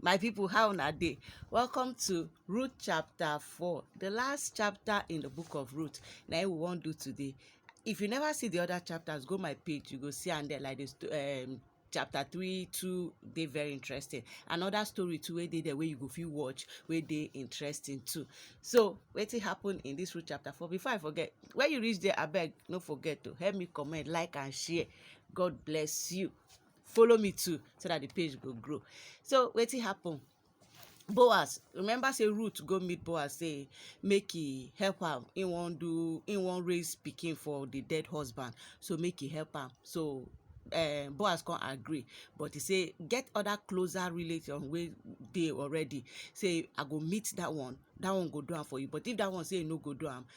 My people how una dey? Welcome to Ruth chapter 4, the last chapter in the book of Ruth. Na im we wan do today. If you never see the other chapters, go my page, you go see am there like this um chapter 3, 2 dey very interesting. Another story too wey dey there wey you go fit watch wey dey interesting too. So wetin happen in this Ruth chapter 4? Before I forget, when you reach there abeg no forget to help me comment, like and share. God bless you. follow me too so that the page go grow so wetin happen boaz remember say ruth go meet boaz say make he help am he wan do he wan raise pikin for the dead husband so make he help am so uh, boaz come agree but he say get other closer relation wey dey already say i go meet that one that one go do am for you but if that one say e no go do am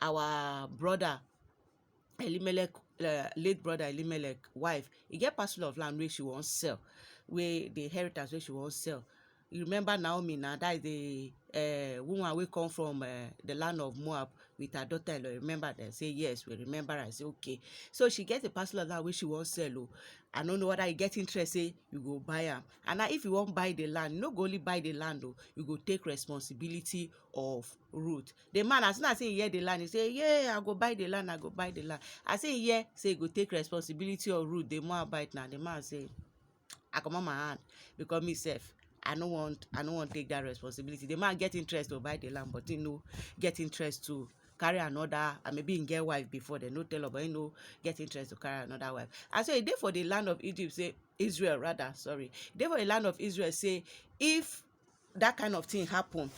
our brother Elimelech um late brother Elimelech wife, e get parcel of land wey she wan sell, wey the inheritance wey she wan sell. You remember Naomi na, dat is the um woman wey come from um the land of Moab with her daughter-in-law, you remember? Dem say yes, we remember am. I say okay. So she get a parcel of land wey she wan sell o. I no know whether you get interest sey you go buy am. And na if you wan buy the land, you no go only buy the land o, you go take responsibility of Ruth. The man as soon as he hear the land, he say, Yay, I go buy the land, I go buy the land. As he hear, say he go take responsibility of root, the Moabite now. The man say, I come on my hand because me self, I no want, I no want take that responsibility. The man get interest to buy the land, but he no get interest to carry another and maybe him get wife before they no tell her but he no get interest to carry another wife and so he dey for the land of egypt say israel rather sorry dey for the land of israel say if that kind of thing happen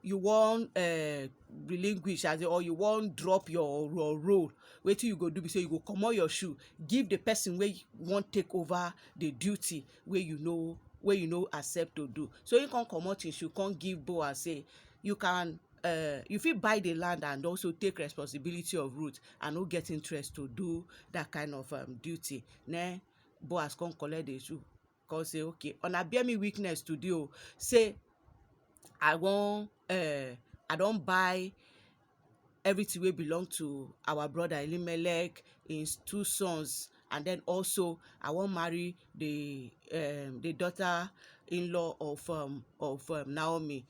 you wan uh, relinquish as or you wan drop your your role wetin you go do be say you go comot your shoe give the person wey wan take over the duty wey you no wey you no accept to do so he come comot him shoe come give boaz say you can uh, you fit buy the land and also take responsibility of root and no get interest to do that kind of um, duty na boaz come collect the shoe come say okay una bear me witness today o say I wan um I don buy everything wey belong to our brother Elimelech, im two sons and then also I wan marry the um the daughter in-law of um of um Naomi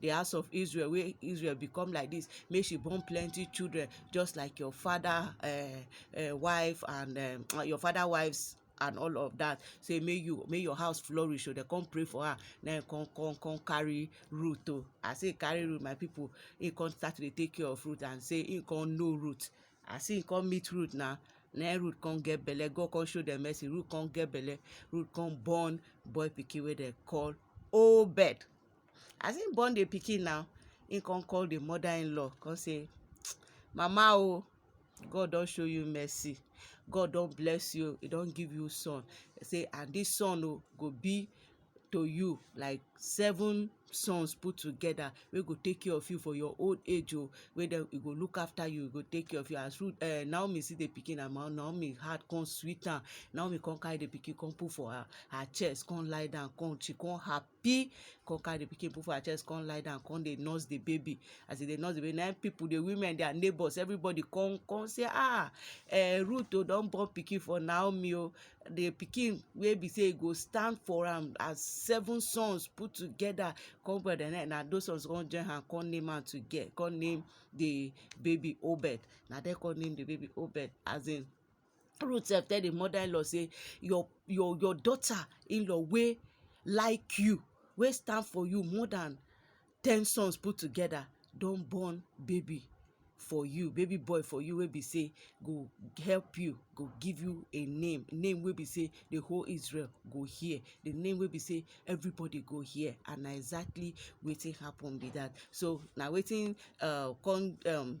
the house of Israel wey Israel become like this make she born plenty children just like your father uh, uh, wife and um, your father wives and all of that say may you may your house flourish so they come pray for her na him come come come carry root o oh. i say carry root my people he come start to dey take care of root and say he come know root i say he come meet root na na root come get belle god come show dem mercy root come get belle root come born boy pikin wey dem call obed As im born the pikin now, im come call the mother in law come say mama o God don show you mercy, God don bless you o, e don give you son say and this son o go be to you like seven sons put together wey go take care of you for your old age o, wey dem e go look after you, e go take care of you as Ruth um Naomi see the pikin and Naomi heart come sweet am, Naomi come carry the pikin come put for her her chest come lie down come she come happy pee come carry the pikin put for her chest come lie down come dey nurse the baby as e dey nurse the baby na im people the women their neighbors everybody come come say ah eh Ruth o don born pikin for Naomi o the pikin wey be say e go stand for am as seven sons put together come well dem na those ones come join hand come name am toge come name the baby Obed na dem come name the baby Obed as in Ruth sef tell the mother-in-law say your your your daughter-in-law wey like you, wey stand for you more than ten sons put together don born baby for you, baby boy for you wey be say go help you, go give you a name, name wey be say the whole Israel go hear, the name wey be say everybody go hear and na exactly wetin happen be that. So na wetin um come um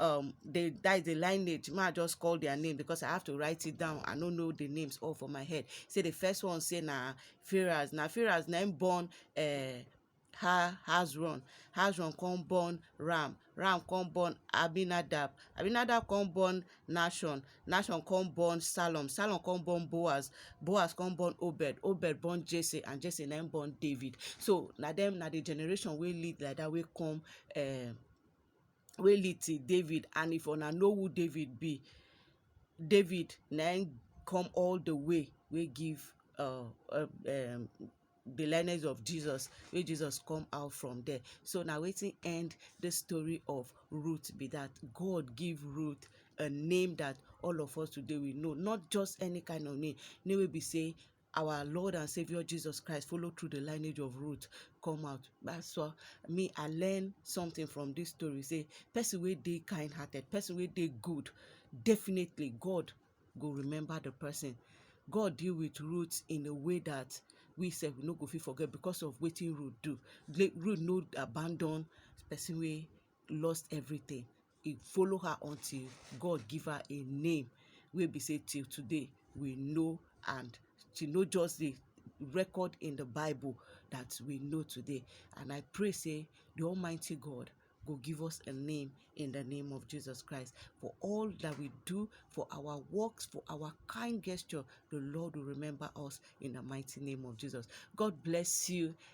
um they that is the lineage ma just call their name because i have to write it down i no know the names all for my head say the first one say na firas na firas na him born uh, ha hazron hazron come born ram ram come born abinadab abinadab come born nashon nashon come born salom salom come born boaz boaz come born obed obed born jesse and jesse na him born david so na them na the generation wey lead like that wey come uh, wey lead till David and if una know who David be David na im come all the way wey give uh, uh, um, the lineage of Jesus wey Jesus come out from there so na wetin end the story of Ruth be that God give Ruth a name that all of us today we know not just any kind of name name wey be say our Lord and Savior Jesus Christ follow through the lineage of Ruth come out. That's why me I learn something from this story. Say person wey dey kind hearted, person wey dey good, definitely God go remember the person. God deal with Ruth in a way that we sef we no go fit forget because of wetin Ruth do. Ruth no abandon person wey lost everything e follow her until God give her a name wey be say till today we know and she no just dey record in the Bible that we know today. And I pray, say, the Almighty God go give us a name in the name of Jesus Christ. For all that we do, for our works, for our kind gesture, the Lord will remember us in the mighty name of Jesus. God bless you.